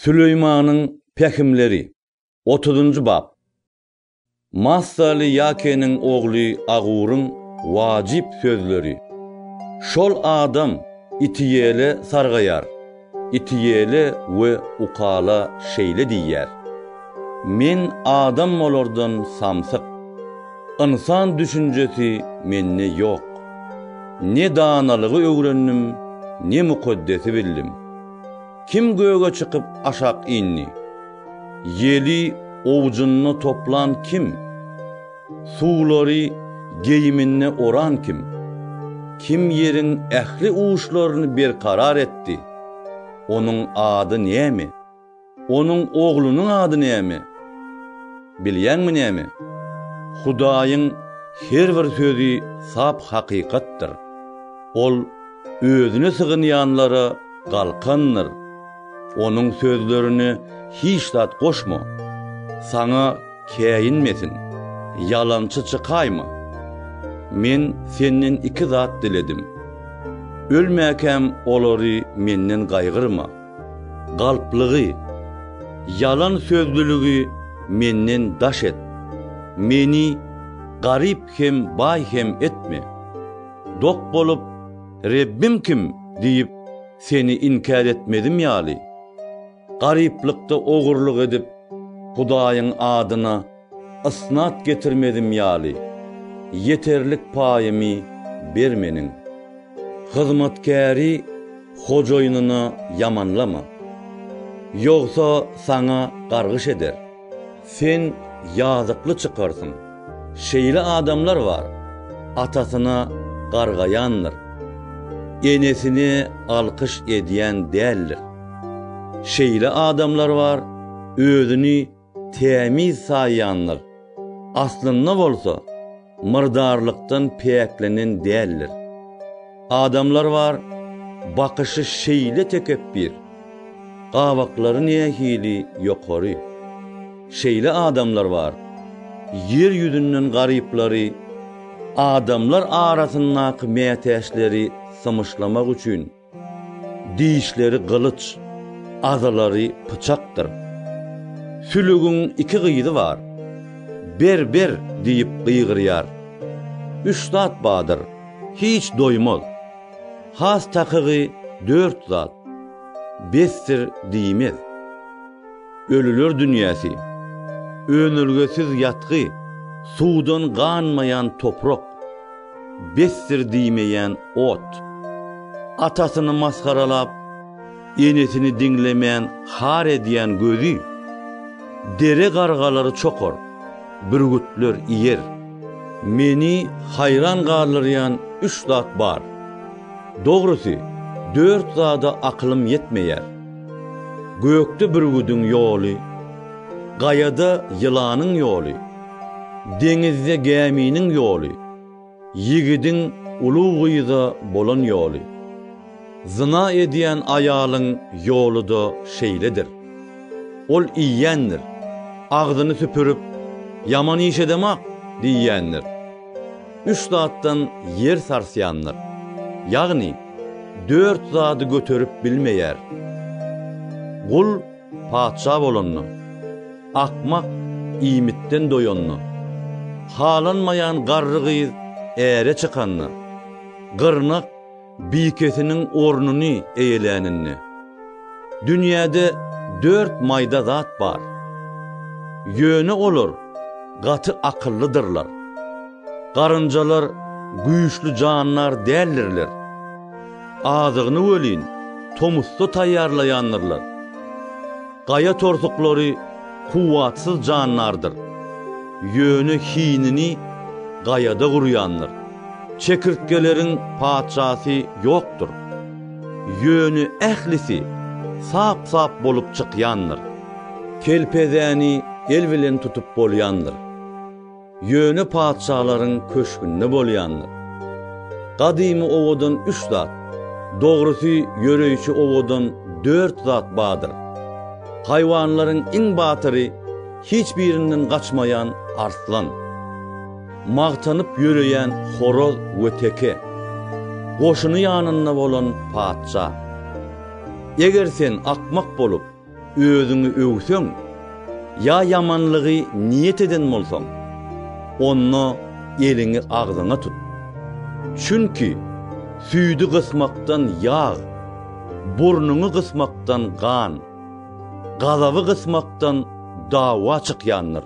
Süleýmanyň pähimleri. Otuzynjy bap. Massaly Ýakeniň ogly Aguryň wajyp sözleri. Şol adam Itiýele sargaýar. Itiýele we Ukala şeýle diýýär, Men adam bolardan samsyk. Ynsan düşünjesi mende ýok. Ne danalygy öwrendim, ne mukaddesi bildim. Kim göge çykyp aşak indi? Ýeli owjunda toplan kim? Suwlary geýiminde oran kim? Kim ýeriň ähli uçlaryny berkarar etdi? Onuň ady näme? Onuň oglunyň ady näme? Bilýäňmi näme? Hudaýyň her bir sözi sap hakykatdyr. Ol Özüne sygynýanlara galkandyr. Onuň sözlerine hiç zat goşma. Saňa käýinmesin, ýalançy çykaýma. Men senden iki zat diledim. Ölmäkäm olary menden gaýgyrma. Galplygy, ýalan sözlüligi menden daş et. Meni garyp hem baý hem etme. Dok bolup, Rebbim kim? diýip, seni inkär etmedim ýaly, garyplykda ogurlyk edip, Hudaýyň adyna ysnat getirmedim ýaly, ýeterlik paýymy bermeniň. Hyzmatkäri hojaýynyna ýamanlama. Ýogsa saňa gargyş eder. Sen ýazykly çykarsyň. Şeýle adamlar bar, atasyna gargaýandyr, enesini alkyş edýän däldir. Şeýle adamlar bar, özüni tämiz saýýandyr, aslynda bolsa, myrdarlykdan päklenen däldir. Adamlar bar, bakyşy şeýle tekepbir, gabaklary nähili ýokary. Şeýle adamlar bar, ýer ýüzünden garyplary, adamlar arasyndaky mätäçleri symyşlamak üçin, Dişleri gylyç, azalary pyçakdyr. Sülügiň iki gyzy bar. Ber, ber! diýip gygyrýar. Üç zat badyr, hiç doýmaz. Has takygy dört zat. Besdir diýmez. Ölüler dünýäsi. Önelgesiz ýatgy, suwdan ganmaýan toprak. Besdir diýmeýän ot. Atasyny masgaralap, enesini diňlemän har edýän gözi. Dere gargalary çokar, bürgütler iýer. Meni haýran galdyrýan üç zat bar. Dogrusy, dört zada akylym ýetmeýär. Gökde bürgüdiň ýoly, gaýada ýylanyň ýoly. Deňizde gäminiň ýoly, ýigidiň uly gyza bolan ýoly. Zyna edýän aýalyň ýoly-da şeýledir. Ol iýýändir, agzyny süpürip, Ýaman iş edemok! diýýändir. Üç zatdan ýer sarsýandyr. Ýagny, dört zady göterip bilmeýär. Gul Patyşa bolanda, akmak iýmitden doýanda, halanmaýan garry gyz äre çykanda, gyrnak bikesiniň ornuny eýeläninde. Dünýäde dört maýda zat bar. Ýöne olar gaty akyllydyrlar. Garynjalar güýçli jandar däldirler. Azygyny welin tomusda taýýarlaýandyrlar. Gaýa torsuklary kuwwatsyz jandardyr. Ýöne hinini gaýada gurýandyr. Çekirtgeleriň patyşasy ýokdur. Ýöne ählisi sap-sap bolup çykýandyr. Kelpezäni el bilen tutup bolýandyr. Ýöne patyşalaryň köşgünde bolýandyr. Gadymy owadan üç zat, dogrusy ýöreýşi owadan dört zat bardyr. Haýwanlaryň iň batyry hiç birinden gaçmaýan arslan. Magtanyp ýöreýän horaz we teke. Goşuny ýanynda bolan patyşa. Eger sen akmak bolup. Özüňi öwseň ýa ýamanlygy niýet eden bolsaň, onda eliňi agzyňa tut. Çünki süýdi gysmakdan ýag, burnuňy gysmakdan gan, gazaby gysmakdan dawa çykýandyr.